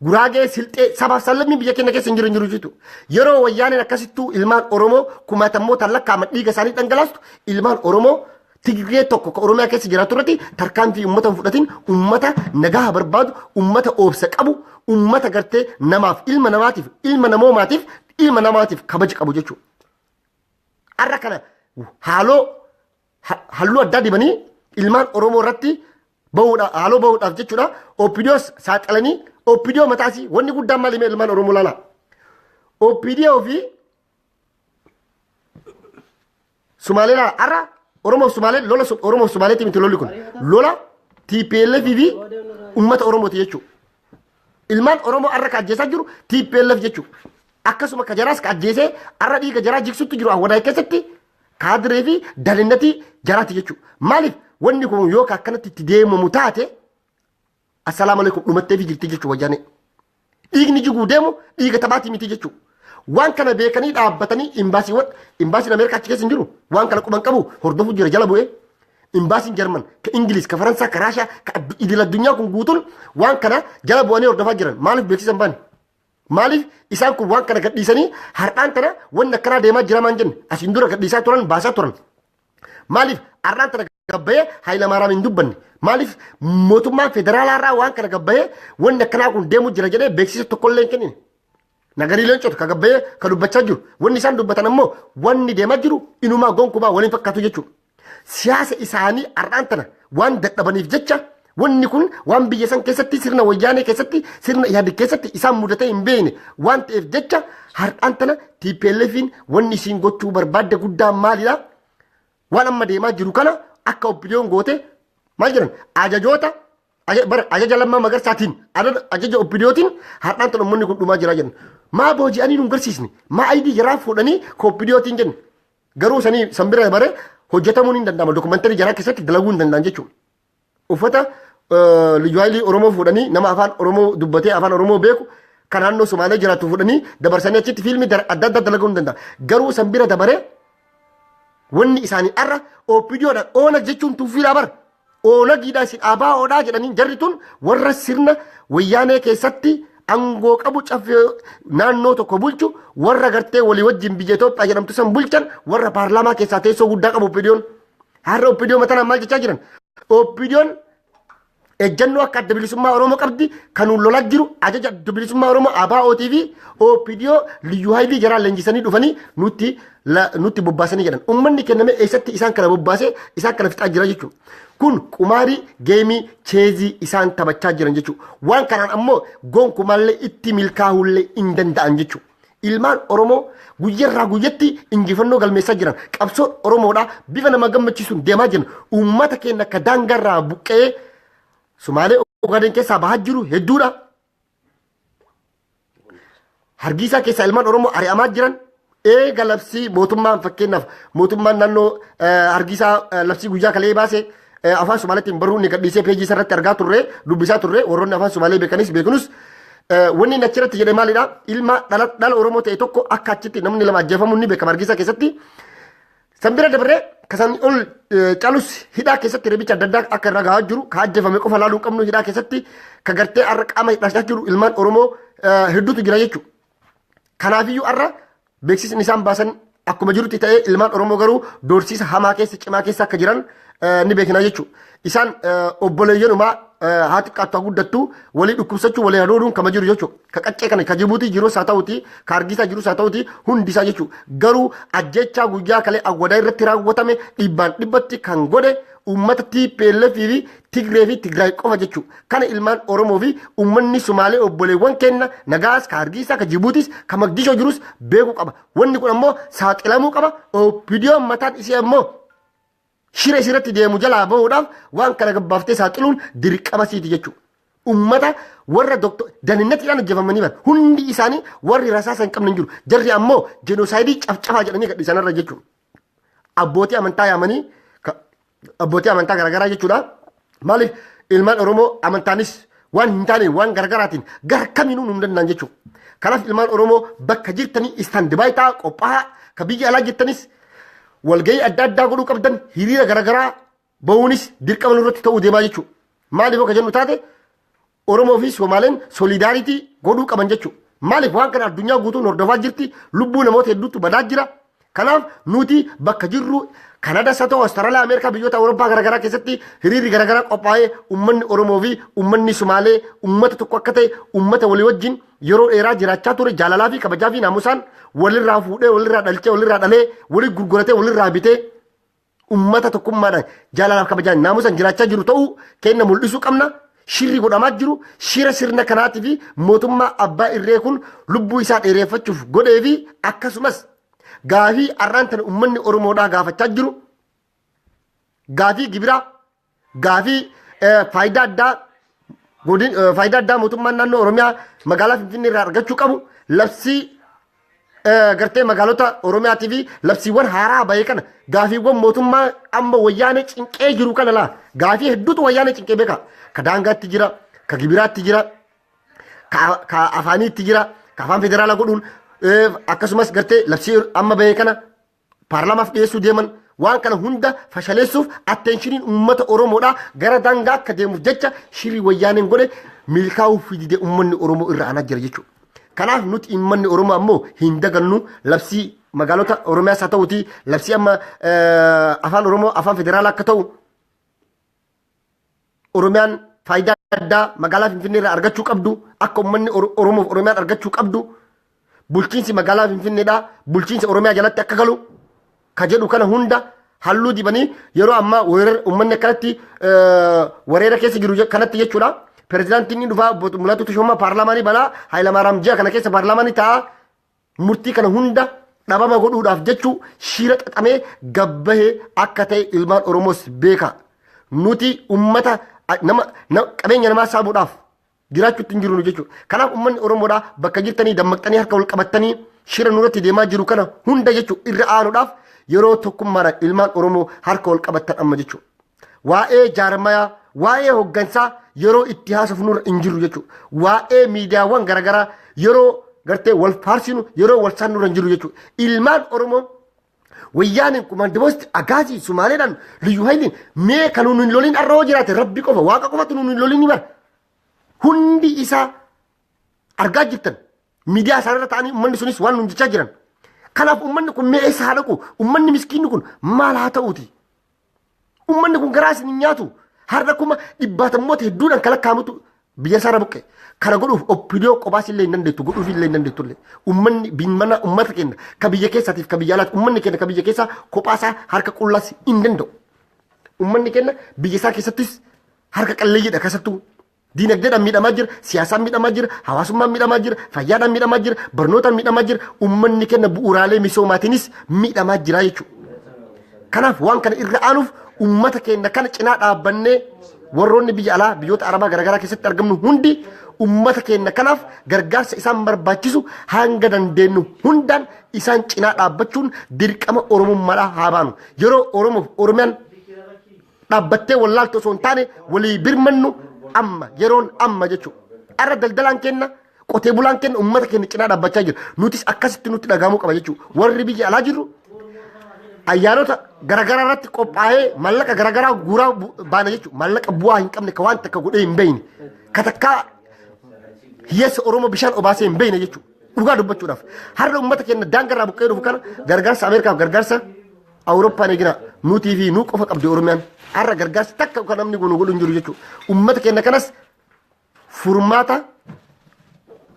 Guraagee silxee sabaaf sallammiin biyya keenya keessa hin jiru hin jiru jitu. Yeroo wayyaaneen akkasittuu ilmaan Oromoo kumaatamootaan lakkaa'aman dhiiga isaanii dhangalaastu ilmaan Oromoo Tigree tokko ka Oromiyaa keessa jiraatu irratti tarkaanfii uummata hin fudhatin uummata nagaa barbaadu uummata oobsa qabu uummata gartee namaaf ilma namaatiif ilma namoomaatiif ilma namaatiif kabaja qabu jechuudha. Har'a kana haaloo ha- halluu addaa dibanii ilmaan Oromoo irratti bahuudha haaloo bahuudhaaf jechuudha OPDOs saaxilanii OPDO mataasii wanni guddaan maal himee ilmaan Oromoo laala OPDO fi Sumaalee laala har'a Oromoo fi Sumaalee lola Su- Oromoo fi Sumaaleetii miti lolli kun lola TPLF fi uummata Oromooti jechuudha. ilmaan oromoo har'a ka ajjeesaa jiru tplf jechuudha akkasuma ka jaraas ka ajjeesee har'a dhiiga jaraa jigsutti jiru awwadaay keessatti Kaadiree fi dalinnatii jaraati jechuudha. Maaliif wanni kun yoo akkanatti itti deemamu taate assalaamu alaikum dhumattee fi jirti jechuudha wayyaanee. Dhiigni jiguu deemu dhiiga taphaatii miti jechuudha. Waan kana beekanii dhaabbatanii imbaasiiwwan imbaasiin Ameerikaa achi keessa hin jiru waan kana quban qabu hordofuu jira jala bu'ee. Imbaasiin Jarman ka Ingiliis ka Faransaa ka Raashaa ka idil addunyaa kun guutuun waan kana jala bu'anii hordofaa jiran maaliif beeksisan baane? Maaliif isaan kun waan kana gadhiisanii har'aan tana wanni akkanaa deemaa jiramaan jenne asiin dura gadhiisaa turan baasaa turan. Maaliif har'aan tana gabbayee Hayilamaaraam hin dubbanne. Maaliif mootummaan federaalaa irraa waan kana gabbayee wanni akkanaa kun deemuu jira jedhee beeksisa tokkollee hin kennine. Nagarii leencota ka gabbayee ka dubbachaa jiru. Wanni isaan dubbatan ammoo wanni deemaa jiru inumaa gonkumaa waliin fakkaatu jechuudha. siyaasa isaanii har'aan tana waan dadhabaniif jecha wanni kun waan biyya san keessatti sirna wayyaanee keessatti sirna ihaadig keessatti isaan mudatee hin beekne waan ta'eef jecha har'aan tana TPLFiin wanni isiin gochuu barbaadde guddaan maalidha? Waan amma deemaa jiru kana akka oppidiyoon goote maal jedhan ajajoota aja- bara ajaja lammaa magarsaatiin ajaja- ajaja oppidiyootiin har'aan tana uummanni kun dhumaa jiraa jedhan. Maa booji'anii nu hin garsiisne maa ayidii jaraa fuudhanii ka oppidiyootiin jenne. Garuu sanii san bira bare hojjetamuun hin danda'ama. Dokumantarii jaraa keessatti dalaguu hin danda'an jechuudha. Uffata eh, liyyu haayilii Oromoo fuudhanii nama afaan Oromoo dubbatee afaan Oromoo beeku kan naannoo Somaalee jiraatu fuudhanii dabarsanii achitti fiilmii dar- adda addaa dalaguu hin danda'an. Garuu san bira dabaree wanni isaanii arra OPDOdha oona jechuun tuffiidhaa bar Oolagiidhaa isin ABOdhaa jedhanii jarri tun warra sirna wayyaanee keessatti angoo qabu caffee naannoo tokko bulchu warra gartee walii wajjin biyya Itoophiyaa jedhamtu san bulchan warra paarlaamaa keessaa teessoo guddaa qabu oppidiyoon. Har'a oppidiyoon matanaan maal jechaa jiran? Oppidiyoon ejjannoo akka adda bilisummaa Oromoo qabdi kan lolaa jiru ajaja adda bilisummaa Oromoo ABOtii fi OPDO liyyuu haayilii jaraan leenjisanii dhufanii nutti la- nutti bobbaasanii jedhan ummanni kenname eessatti isaan kana bobbaasee isaan kana fixaa jira jechuudha. Kun qumaarii geemii cheezii isaan taphachaa jiran jechuudha. Waan kanaan ammoo gonkumaallee itti milkaa'uullee hin danda'an jechuudha. Ilmaan Oromoo guyyarraa guyyatti injifannoo galmeessaa jiran qabsoon Oromoodhaa bifa nama gammachiisuun deemaa jiran uummata keenya akka daangarraa buqqa'ee Sumaalee Ogaadeen keessaa bahaa jiru hedduudha. Hargiisaa keessaa ilmaan Oromoo ari'amaa jiran eega labsii mootummaan fakkeenyaaf mootummaan naannoo hargiisaa labsii guyyaa kalee baase afaan Somaaliitiin baruu inni gadhiisee peejii isaa irratti argaa turre dubbisaa turre warroonni afaan Somaalee beekanis beekunus wanni inni achirratti jedhe maalidha ilma dhala Oromoo ta'e tokko akka achitti namni lama ajjeefamuun ni beekama hargiisaa keessatti San bira dabarree kasan ol calus hidhaa keessatti rebicha adda addaa akka irra gahaa jiru ka ajjefame qofa laaluu qabnu hidhaa keessatti ka gartee har'a qaama hidhaa jiru ilmaan Oromoo hedduutu jira jechuudha. Kanaafiyyuu har'a beeksisni isaan baasan akkuma jirutti ta'ee ilmaan Oromoo garuu doorsiisa hamaa keessa cimaa keessa akka jiran ni beekna jechuudha. isaan obboleeyyanumaa haa xiqqaattu haa guddattu walii dhukkubsachuu walii hadooduun kama jiru jechuudha. Ka qaccee kana ka jibuutii jirus haa ta'uti ka argiisaa jirus haa ta'uti hundi isaa jechuudha. Garuu ajjechaa guyyaa kalee awwadaa irratti raawwatame dhibbaan dhibbatti kan godhe uummata TPLF fi Tigree fi Tigraay qofa jechuudha. Kana ilmaan Oromoo fi uummanni Sumaalee obboleewwan kenna nagaas ka argiisaa ka jibuutis ka magdishoo jirus beekuu qaba. Wanni kun ammoo saaxilamuu qaba. Opidiyoon mataan isii ammoo shira isirratti deemu jalaa bahuudhaaf waan kana gabbaaftee saaxiluun dirqama siiti jechuudha. Ummata warra doktor daninatiidhaan ajjefamanii bara hundi isaanii warri rasaasa hin qabne hin jiru. Jarri ammoo jenoosaayidii cafcafaa jedhanii gadhiisan irra jechuudha. Abbootii amantaa yaamanii abbootii amantaa garaagaraa jechuudha. Maaliif ilmaan Oromoo amantaanis waan hin taane waan gargaraatiin gara kamiinuu nu danda'an jechuudha. Kanaaf ilmaan Oromoo bakka jirtanii istaandi baay'ee ta'aa qophaa'aa ka biyya alaa jirtanis walgahii adda addaa godhuu qabdan hiriira garagaraa bahuunis dirqama nurratti ta'uu deemaa jechuudha. Maaliif akka jennu taate Oromoo fi Somaaleen solidaaritii godhuu qaban jechuudha. Maaliif waan kana addunyaa guutuun hordofaa jirti, lubbuu namoota hedduutu badaa jira. Kanaaf nuti bakka jirru Kanada isa ta'u Awustaraaliyaa, Ameerikaa, biyyoota Awurooppaa garaagaraa keessatti hiriirri garaagaraa qophaa'ee uummanni Oromoo fi uummanni Somaalee uummata tokko akka ta'e uummata walii wajjin yeroo dheeraa jiraachaa ture jaalalaa fi kabajaa fi naamusaan walirraa fuudhee walirraa dhalchee walirraa dhalee walii gurguratee walirraa bitee Ummata tokkummaadhaan jaalalaaf kabajaan naamusan jiraachaa jiru ta'uu kenna mul'isuu qabna. Shirri godhamaa jiru shira sirna kanaatii fi mootummaa abbaa irree kun lubbuu isaa dheereeffachuuf godhee fi akkasumas gaafii har'aan tana ummanni Oromoodhaa gaafachaa jiru gaafii gibiraa Gaafii faayidaa addaa godin faayidaa addaa mootummaan naannoo Oromiyaa magaalaa Finfinnee irraa argachuu qabu labsii gartee magaalota Oromiyaatii fi labsiiwwan haaraa bahee kana gaafiiwwan mootummaa amma wayyaanee cinqee jiru kana laa gaafii hedduutu wayyaanee cinqee beeka ka daangaatti jira ka gibiraatti jira ka afaaniitti jira ka afaan federaalaa godhuun akkasumas gartee labsii amma bahee kana paarlaamaaf dhiyeessuu deeman waan kana hunda fashaleessuuf attenshiniin uummata Oromoodhaa gara daangaa akka deemuuf jecha shirri wayyaaneen godhe milkaa'uuf fidide uummanni Oromoo irra aanaa jira jechuudha. Kanaaf nuti uummanni Oromoo ammoo hin dagannu labsii magaalota Oromiyaas haa ta'uuti labsii amma afaan Oromoo afaan federaalaa akka ta'u Oromiyaan faayidaa addaa magaalaa Finfinnee irraa argachuu qabdu akka uummanni Oromoof Oromiyaan argachuu qabdu bulchiinsi magaalaa Finfinneedhaa bulchiinsa Oromiyaa jalatti akka galu ka jedhu kana hunda halluu dibanii yeroo ammaa uummanni akkanatti wareera keessa jiru kanatti jechuudha. Pirezidaantiin ni dhufaa Mul'atuu Tashoomaa paarlaamaanii banaa Hayilamaaraam ji'a kana keessa paarlaamaanii ta'a. Murtii kana hunda dhabama godhuudhaaf jechuu shiira xaxamee gabbahe akka ta'e ilmaan Oromoos beeka. Nuti ummata nama, nama qabeenya namaa saamuudhaaf jiraachuutti hin jirru jechuudha. Kanaaf ummanni Oromoodhaa bakka jirtanii dammaqxanii harka wal qabattanii shira nurratti deemaa jiru kana hunda jechuu irra aanuudhaaf yeroo tokkummaadhaan ilmaan Oromoo harka wal qabattan amma jechuudha. waa'ee jaarmayaa waa'ee hoggansaa yeroo itti haasofnurra hin jiru jechuudha. Waa'ee miidiyaawwan garaagaraa yeroo gartee wal faarsinu yeroo wal saannurra hin jiru jechuudha. Ilmaan Oromoo wayyaaniin kumaandimoosti agaasii sumaaleedhaan liyyu hayiliin mee kan nuun hin loliin arra hoo jiraate rabbi qofa waaqa qofatu nuun hin loliin bara. Hundi isaa argaa jirtan miidiyaa isaanirra ta'anii uummanni sunis waan nuun jechaa jiran. Kanaaf uummanni kun mee eessa haa dhaqu? Uummanni miskiinni kun maal haa ta'uuti? Uummanni kun garaa isin hin nyaatu. Har'a kuma dhibbaatammoota hedduudhaan kan lakkaa'amutu biyya isaarra buqqe. Kana godhuuf oppidoo qobaas illee hin dandeettu godhuuf illee hin dandeettu illee. Uummanni bimmana uummata keenya ka biyya keessaatiif ka biyya alaati uummanni keenya ka biyya keessaa kophaasaa harka qullaas hin danda'u. Uummanni keenya biyya isaa keessattis harka qalleeyyiidha keessattuu. Diinagdeedhaan miidhamaa jira, siyaasaan miidhamaa jira, hawaasummaan miidhamaa jira, fayyaadhaan miidhamaa jira, barnootaan miidhamaa jira, ummanni kenna bu'uuraalee misoomaatiinis miidhamaa jira jechuudha. Kanaaf waan kana irra aanuuf ummata keenya kana cinaa dhaabbannee warroonni biyya alaa biyyoota arabaa garaagaraa keessatti argamnu hundi ummata keenya kanaaf gargaarsa isaan barbaachisu hanga dandeenyu hundaan isaan cinaa dhaabbachuun dirqama oromummaadhaa haa baanu. Yeroo Oromoof Oromiyaan dhaabbattee wallaaltu osoo hin taane walii birmannu amma yeroon amma jechuudha. Har'a daldalaan kenna qotee bulaan kenna uummata keenya cinaa dhaabbachaa jira. Nutis akkasitti nutti dhagahamuu qaba jechuudha. Warri biyya alaa jirru ayyaanota garaagaraa irratti qophaa'ee mallaqa garaagaraa guuraa bu- baana jechuudha. Mallaqa bu'aa hin qabne ka waan takka godhee hin beekne. Ka takkaa hiyyeessa Oromoo bishaan obaasee hin beekne jechuudha. Dhugaa dubbachuudhaaf. Har'a uummata keenya daangarraa buqqee dhufu kana gargaarsa Ameerikaaf gargaarsa Awurooppaan egira nutii fi nu qofa qabdi Oromiyaan har'a gargaarsa takka kan namni kun godhu hin jiru jechuudha. Uummata keenya kanas furmaata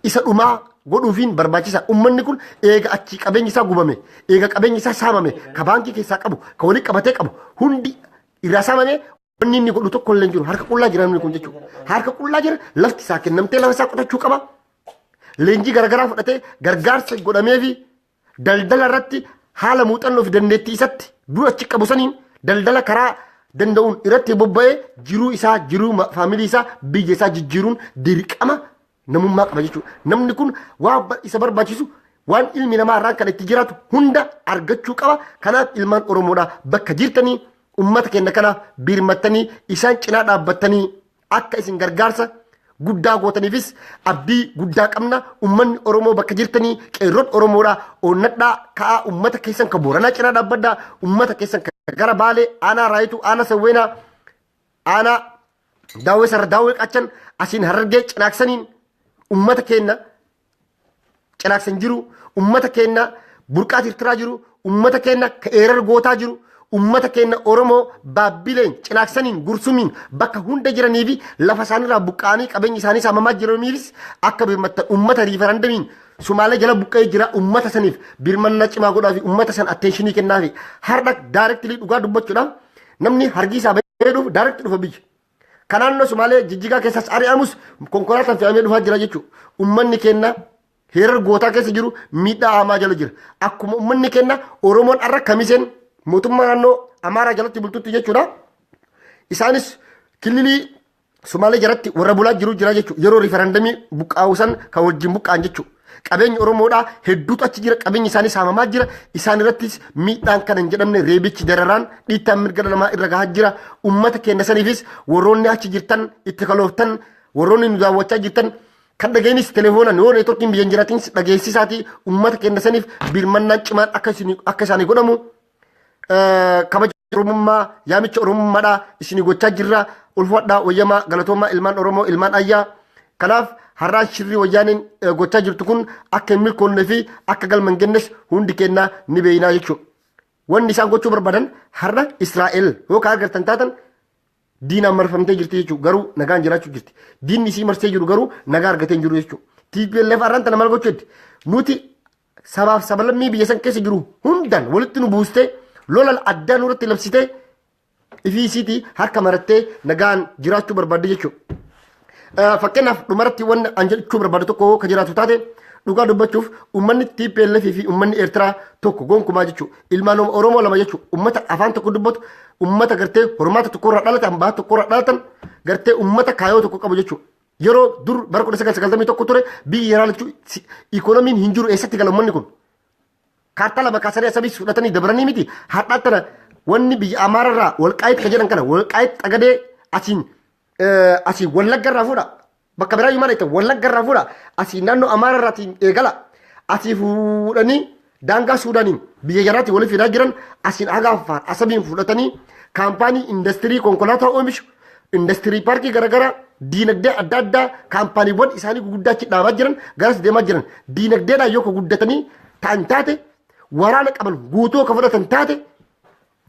isa dhumaa godhuufiin barbaachisa. Uummanni kun eega achi qabeenyi isaa gubame, eega qabeenyi isaa saamame, ka baankii keessaa qabu, ka walii qabatee qabu hundi irraa saamame Wanni inni godhu tokko illee hin jiru. Harka qullaa jira namni kun jechuudha. Harka qullaa jira lafti isaa kennamtee lafa isaa qotachuu qaba. Leenjii garaagaraa fudhatee gargaarsa godhamee fi daldala irratti haala muuxannoo fi dandeettii isatti dur achi qabu saniin daldala karaa danda'uun irratti bobba'ee jiruu isaa jiruu ma- faamilii isaa biyya isaa jijjiiruun dirqama namummaa qaba jechuudha. Namni kun waan isa barbaachisu waan ilmi namaa irraan kan itti jiraatu hunda argachuu qaba. Kanaaf ilmaan Oromoodhaa bakka jirtanii uummata keenya kana birmattanii isaan cinaa dhaabbattanii akka isin gargaarsa guddaa gootaniifis abdii guddaa qabna. Uummanni Oromoo bakka jirtanii qeerroon Oromoodhaa onnadhaa ka'aa uummata keessan kan booranaa cinaa dhaabbadhaa uummata keessan kan gara baalee aanaa raayituu aanaa sawweenaa aanaa daawwee sarara daawwee qachan asiin harargee cinaaksaniin ummata keenya cinaaksan jiru ummata keenya burqaa tirtiraa jiru ummata keenya ka eerar gootaa jiru ummata keenya oromoo baabbileen cinaaksaniin gursumiin bakka hunda jiranii fi lafa isaanirraa buqqa'anii qabeenya isaanii saamamaa jiraniifis akka birmattan ummata riifarandamiin sumaalee jala buqqa'ee jira ummata saniif birmannaa cimaa godhaa fi ummata san atteenshinii kennaa fi har'a daarektilii dhugaa dubbachuudhaaf Namni hargii isaa bahee dhufu daaratti dhufa biyya. Kan naannoo Sumaalee jijjigaa keessas ari'amus konkolaataan fe'amee dhufaa jira jechuudha. Uummanni keenya heerar gootaa keessa jiru miidhaa hamaa jala jira. Akkuma uummanni keenya Oromoon har'a kamiseen mootummaa naannoo Amaaraa jalatti bultutti jechuudha. Isaanis kililii Sumaalee jaratti warra bulaa jiru jira jechuudha. Yeroo riifarandamii buqqaa'u san kan wajjin buqqaan jechuudha. Qabeenyi Oromoodhaa hedduutu achi jira. Qabeenyi isaanii saamamaa jira. Isaan irrattis miidhaan kana hin jedhamne reebichi dararaan dhiittaan mirga dhala namaa irra gahaa jira. Uummata keenya saniifis warroonni achi jirtan itti kalooftan warroonni nu daawwachaa jirtan kan dhageenyis telefoonaan yoo neetworkiin biyya hin jiraatiinis dhageessisaatii uummata keenya saniif birmannaan cimaan akka isin- akka isaanii godhamu kabaja oromummaa yaamicha oromummaadha isinii gochaa jirra ulfadhaa wayyamaa galatoomaa ilmaan oromoo ilmaan ayyaa kanaaf har'aan shirrii wayyaaniin gochaa jirtu kun akka hin milkoonnee fi akka galma hin gennes hundi kennaa ni beeynaa jechuudha. Wanni isaan gochuu barbaadan har'a Israa'el yoo ka argattan taatan diinaan marfamtee jirti jechuudha garuu nagaan jiraachuu jirti. Diinni isii marsee jiru garuu nagaa argatee hin jiru jechuudha. TPLF har'aan tana maal gochuu jetti? Nuti sabaaf sabalammii biyya san keessa jiru hundaan walitti nu buustee lola addaa nurratti labsitee ifiisiitii harka marattee nagaan jiraachuu barbaadde jechuudha. Fakkeenyaaf dhumarratti wanni an jechuu barbaadu tokko ka jiraatu taate dhugaa dubbachuuf uummanni TPLF fi uummanni Eertiraa tokko gonkumaa jechuudha. Ilmaan Oromoo lama jechuudha. Uummata afaan tokko dubbatu, uummata gartee hormaata tokkorraa dhalatan, baha tokkorraa dhalatan, gartee uummata kaayoo tokko qabu jechuudha. Yeroo dur bara 1991 ture biyyi yeraa lachuu si- ikoonomiin hin jiru eessatti gala ummanni kun. Kaartaa lama kaasanii asamiis fudhatanii dabranii miti har'aa tana wanni biyya Amaararraa walqaayitti kan jedhan kana walqaayitti xagadee asiin eh, asiin wallaggarraa fuudha. Bakka biraa yumaan itti wallaggarraa fuudha. Asiin naannoo Amaararraatiin eegala. Asii fuudhanii Daangaa Suudaaniin biyya jaraatti waliif fidaa jiran asiin haga Affaar Asabiin fudhatanii kaampaanii indastirii konkolaataa oomishu, indastirii paarkii garaagaraa, diinagdee adda addaa kaampaaniiwwan isaanii guguddaa achi dhaabaa jiran garas deemaa jiran diinagdeedhaan yoo ka guddatanii ta'an taate waraana qaban guutuu ka fudhatan taate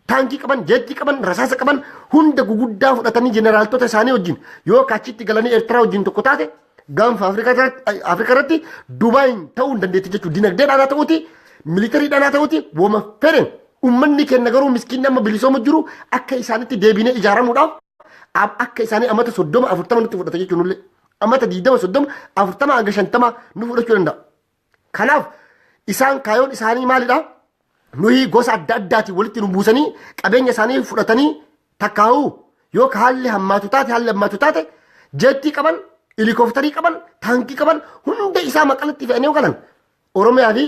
taankii qaban, jeettii qaban, rasaasa qaban hunda guguddaa fudhatanii jeneraaltota isaanii wajjin yoo kaachitti galanii Eertiraa wajjin tokko taate gaanfa Afrikaa irratti- Afrikaa irratti Dubaayin ta'uu hin dandeetti jechuudha. Dinagdeedhaan haa ta'uuti, militariidhaan haa ta'uuti, woma fedhen. Uummanni keenya garuu miskiinni amma bilisooma jiru akka isaanitti deebinee ijaaramuudhaaf ab- akka isaanii amata soddoma afurtama nutti fudhata jechuun illee amata digdama soddoma afurtama hanga shantama nu fudhachuu danda'a. Kanaaf isaan kaayoon isaanii maalidha? Nuyi gosa adda addaatiin walitti nu buusanii qabeenya isaanii fudhatanii takkaa'uu yoo ka haalli hammaatu taate haalli hammaatu taate jeettii qaban, ilikooftarii qaban, taankii qaban hunda isaa maqalatti fe'anii yoo galan Oromiyaa fi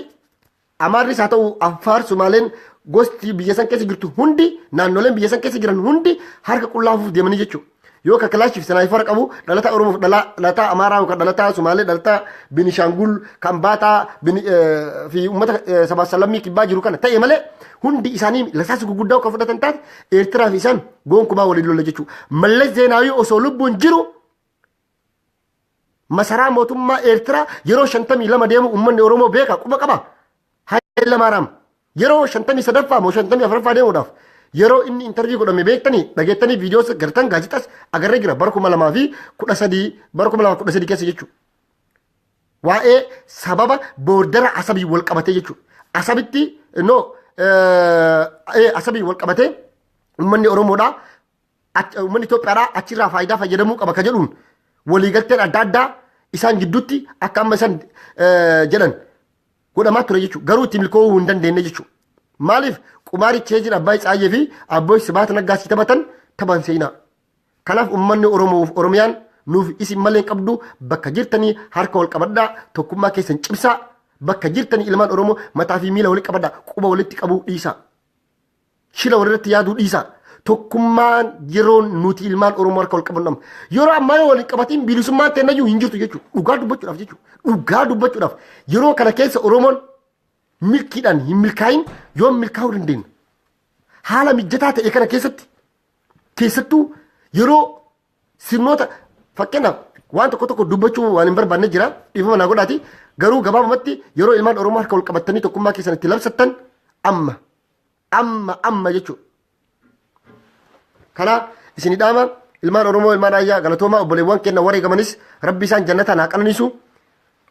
Amaarris haa ta'u Affaar Sumaaleen gosti biyya san keessa jirtu hundi naannoleen biyya san keessa jiran hundi harka qullaafuuf deemanii jechuudha. yoo ka kilaashif sinaayifara qabu dhalataa oromoof dhalataa amaaraa yookaan dhalataa sumaalee dhalataa binishaangul kan baataa fi uummata sabaa salammii kibbaa jiru kana ta'e malee hundi isaanii lasaasa gurguddaa kan fudhatan taate eertiraa fi isaan gonkumaa waliin lola jechuudha mallas zeenaawii osoo lubbuun jiru Masaraa mootummaa Eertiraa yeroo 52 deemu uummanni Oromoo beeka quba qaba. Haayila Maaraam yeroo 53ffaa moo 54ffaa deemuudhaaf yeroo inni intarvii godhame beektanii dhageettanii viidiyoo gartan gaazexas agarree jira bara 2013 bara 2013 keessa jechuudha. Waa'ee sababa boordara asabii wal qabatee jechuudha. Asabitti no asabii wal qabatee uummanni Oromoodhaa ach- uummanni Itoophiyaadhaa achirraa faayidaa fayyadamuu qaba ka jedhuun waliigalteen adda addaa isaan gidduutti akka amma isaan eh, jedhan godhamaa ture jechuudha. Garuu itti milkoofuu hin dandeenye jechuudha. Maaliif qumaarii cheejiin Abbaay Tsaayyee fi Abboy Sibaat Naggaa si taphatan taphan seenaa. Kanaaf uummanni Oromoof Oromiyaan nuuf isin malee hin qabdu bakka jirtanii harka wal qabadhaa tokkummaa keessan cimsaa bakka jirtanii ilmaan Oromoo mataa fi miila walitti qabadhaa quba walitti qabuu dhiisaa. Shila walirratti yaaduu dhiisaa. Tokkummaan yeroon nuti ilmaan Oromoo harka wal qabannu amma. Yeroo ammaa yoo wal hin qabatiin bilisummaan teennayyuu hin jirtu jechuudha. Dhugaa dubbachuudhaaf jechuudha. Dhugaa dubbachuudhaaf yeroo kana keessa Oromoon milkiidhaan hin milkaayin yoo milkaa'uu dandeenya. Haala mijataa ta'e kana keessatti keessattuu yeroo sirnoota fakkeenyaaf waan tokko tokko dubbachuu waan hin barbaanne jira dhiifama naa godhaati garuu gabaabumatti yeroo ilmaan Oromoo harka wal qabatanii tokkummaa keessan itti labsattan amma Amma amma jechuudha. Kana isin dhaama ilmaan Oromoo ilmaan Raayyaa galatoomaa obboleewwan keenya wareegamanis rabbi isaan jannataan haa qananiisu.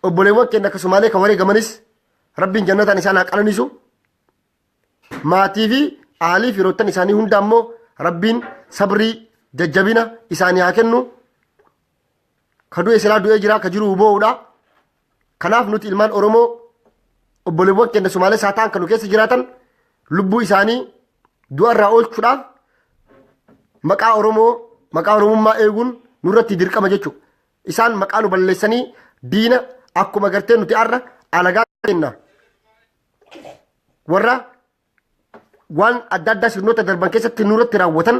Obboleewwan keenya akkasumaalee kan wareegamanis rabbiin jannataan isaan haa qananiisu. Maatii fi aalii firoottan isaanii hunda ammoo rabbiin sabrii jajjabina isaanii haa kennu. Ka du'e silaa du'ee jira ka jiru boo'uudha. Kanaaf nuti ilmaan Oromoo obboleewwan keenya Sumaalee isaa ta'an kan nu keessa jiraatan lubbuu isaanii du'arraa oolchuudhaaf maqaa Oromoo maqaa Oromummaa eeguun nurratti dirqama jechuudha. Isaan maqaa nu balleessanii diina akkuma gartee nuti har'a alagaa kenna. Warra waan adda addaa sirnoota darban keessatti nurratti raawwatan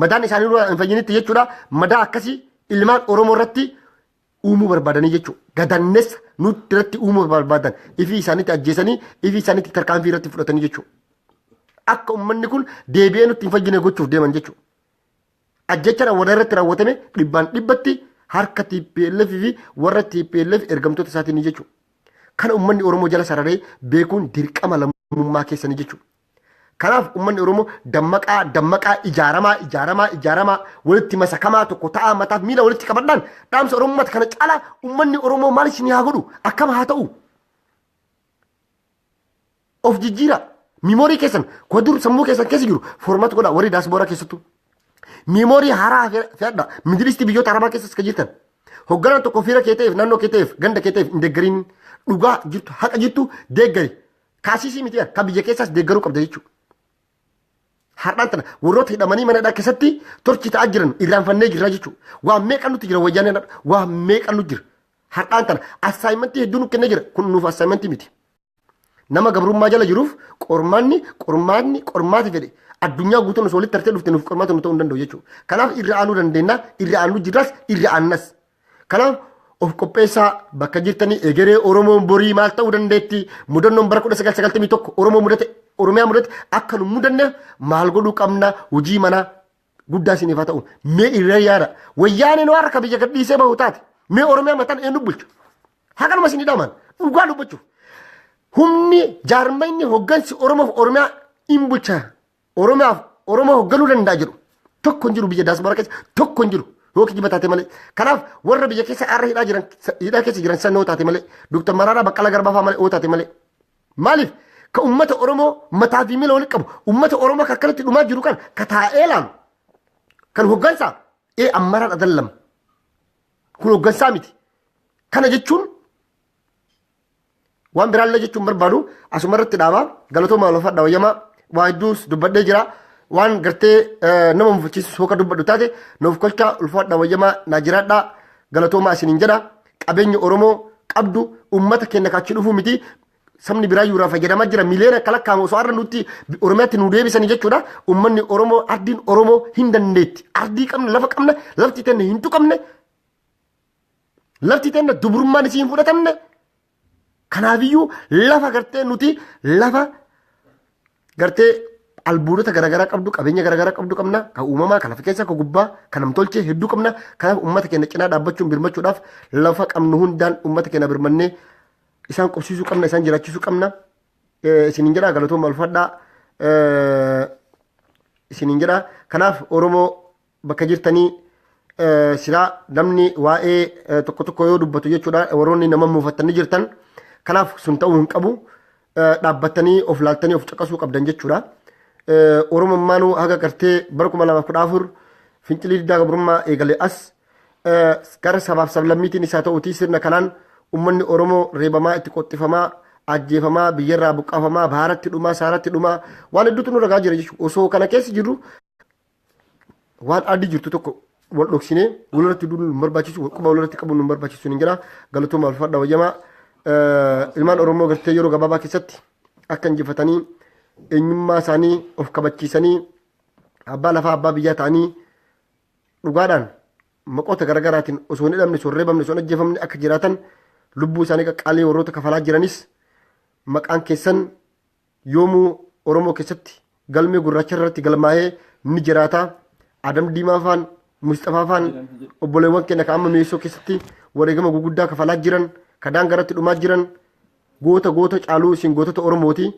madaan isaanii nurraa hin fayyinitti jechuudha. Madaa akkasii ilmaan Oromoo irratti uumuu barbaadanii jechuudha. Gadannessa nutti irratti uumuu barbaadan ifii isaanitti ajjeesanii ifii isaanitti tarkaanfii irratti fudhatanii jechuudha. Akka uummanni kun deebi'ee nutti hin fayyine gochuuf deeman jechuudha. Ajjecha raawwata irratti raawwatame dhibbaan dhibbatti harka TPLF fi warra TPLF ergamtoota isaatiin jechuudha. Kana uummanni Oromoo jala sararee beekuun dirqama lammummaa keessanii jechuudha. Kanaaf ummanni Oromoo dammaqaa dammaqaa ijaaramaa ijaaramaa ijaaramaa walitti masakamaa tokko ta'aa mataaf miila walitti qabadhaan dhaamsa Oromummaa kana caalaa ummanni Oromoo maal isin haa godhu akkam haa ta'u. Of jijjiiraa miimoorii keessan kuwa dur sammuu keessan keessa jiru foormaat godhaa warri daasbooraa keessattuu. Miimoorii haaraa fe'adha midilistii biyyoota arabaa keessas kan jirtan. Hogganaan tokko fiira kee ta'eef naannoo kee ta'eef ganda kee ta'eef hin deeggariin dhugaa jirtu haqa jirtu deeggari. Kaasiisii miti kan biyya keessaas deeggaruu qabda jechuudha. Har'aan tana warroota hidhamanii mana hidhaa keessatti torchi ta'aa jiran irraanfannee jirra jechuudha. Waan meeqa nutti jira wayyaaneen har'a waan meeqa nutti jira. Har'aan tana assaayimentii hedduu nutti kennee jira kun nuuf assaayimentii miti. Nama gabrummaa jala jiruuf qormaanni qormaanni qormaati fedhe addunyaa guutuun osoo walitti tartee dhufte nuuf qormaata nu ta'uu hin danda'u jechuudha. Kanaaf irra aanuu dandeenya irra aanuu jirras irra aannas. Kanaaf of qopheessaa bakka jirtanii egeree Oromoon borii maal ta'uu dandeetti mudannoon bara 1991 Oromoo mudate Oromiyaa mudate akka nu mudanneef maal godhuu qabna hojii manaa guddaa isiniif haa ta'u mee irra yaada wayyaaneen waan akka biyya gadhiisee bahu taate mee Oromiyaa mataan eenyu bulchu hakanuma isin hidhaman dhugaa dubbachuuf humni jaarmayni hoggansi Oromoof Oromiyaa in bulcha Oromiyaaf Oromoo hogganuu danda'a jedhu tokko hin jiru biyya daaspooraa keessa tokko hin jiru yoo kijiba taate malee. Kanaaf warra biyya keessa har'a hidhaa jiran hidhaa keessa jiran san yoo taate malee Dr. Maraaraa Baqqalaa Garbaa fa'aa malee yoo taate malee. Maaliif ka uummata Oromoo mataa fi miila walitti qabu uummata Oromoo ka akkanatti dhumaa jiru kan ka taa'ee laalu kan hoggansaa ee ammaraan adallama kun hoggansaa miti. Kana jechuun Waan biraallee jechuun barbaadu asuma irratti dhaaba galatoomaa lafadha wayyamaa waa hedduus dubbadhee jira. Waan gartee nama mufachiisus hooka dubbadhu taate nuuf kolchaa ulfaadha wayyamaa naa jiraadha galatoomaa isiniin jedha. Qabeenya Oromoo qabdu uummata keenya kaachii dhufuu miti sabni biraa yuuraa fayyadamaa jira miliyoona akka lakkaa'amu osoo har'a nutti Oromiyaatti nu deebisanii jechuudha. Uummanni Oromoo ardiin Oromoo hin dandeetti. Ardii qabna lafa qabna lafti tenne hin tuqamne Lafti teenna dubrummaan isii hin fudhatamne. Kanaafiyyuu lafa gartee nuti lafa gartee albuudota garaagaraa qabdu qabeenya garaagaraa qabdu qabna kan uumamaa kan lafa keessaa kan gubbaa kan namtolchee hedduu qabna kanaaf uummata keenya cinaa dhaabbachuun birmachuudhaaf lafa qabnu hundaan uummata keenya birmannee isaan qubsiisuu qabna isaan jiraachisuu qabna isiniin jedhaa galatooma ulfadhaa isiniin jedhaa kanaaf oromoo bakka jirtanii eh, silaa namni waa'ee eh, tokko tokko yoo dubbatu jechuudha warroonni nama muufattanii jirtan kanaaf sun ta'uu hin qabu Eh, dhaabbattanii of laaltanii of caqasuu qabdan jechuudha Eh, oromummaanuu haga gartee bara 2014 fincilii diddaa gabrummaa eegale as eh, gara sabaaf sablammiitiin isaa ta'uutii sirna kanaan ummanni oromoo reebamaa itti qoxxifamaa ajjeefamaa biyyarraa buqqaafamaa baaratti dhumaa saaratti dhumaa waan hedduutu nu ragaa jira jechuudha osoo kana keessa jirru waan addi jirtu tokko wal dhoksinee walirratti duuduu nu barbaachisu wal quba walirratti qabuun nu barbaachisu hin jira galatooma alfadha wayyamaa ilmaan oromoo gartee yeroo gabaabaa keessatti akka injifatanii eenyummaa isaanii of kabachiisanii abbaa lafaa abbaa biyyaa ta'anii dhugaadhaan maqoota garaagaraatiin osoo hin hidhamne osoo hin reebamne osoo hin ajjeefamne akka jiraatan lubbuu isaanii qaqqaalii warroota kafalaa jiranis maqaan keessan yoomuu Oromoo keessatti galmee gurraacha irratti galmaa'ee ni jiraata. Adam Diimaa faan, Musxafaa faan obboleewwan keenya kan amma mi'eessoo keessatti wareegama guguddaa kafalaa jiran, ka daangaa irratti dhumaa jiran goota goota caaluu isin gootota Oromooti.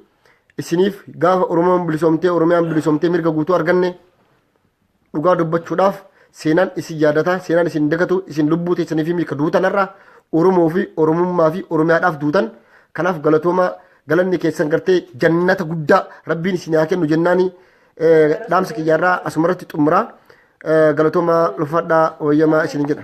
Isiniif gaafa Oromoon bilisoomtee Oromiyaan bilisoomtee mirga guutuu arganne Dhugaa dubbachuudhaaf seenaan isin yaadata, seenaan isin dagatu, isin lubbuu teessanii fi miika duutan har'a Oromoo fi Oromummaa fi Oromiyaadhaaf duutan. Kanaaf galatoomaa galanni keessan gartee jannata guddaa rabbiin isin haa kennu jennaani dhaamsa kiyyaarraa asumarratti xumuraa galatoomaa ulfaadhaa wayyamaa isin jedha.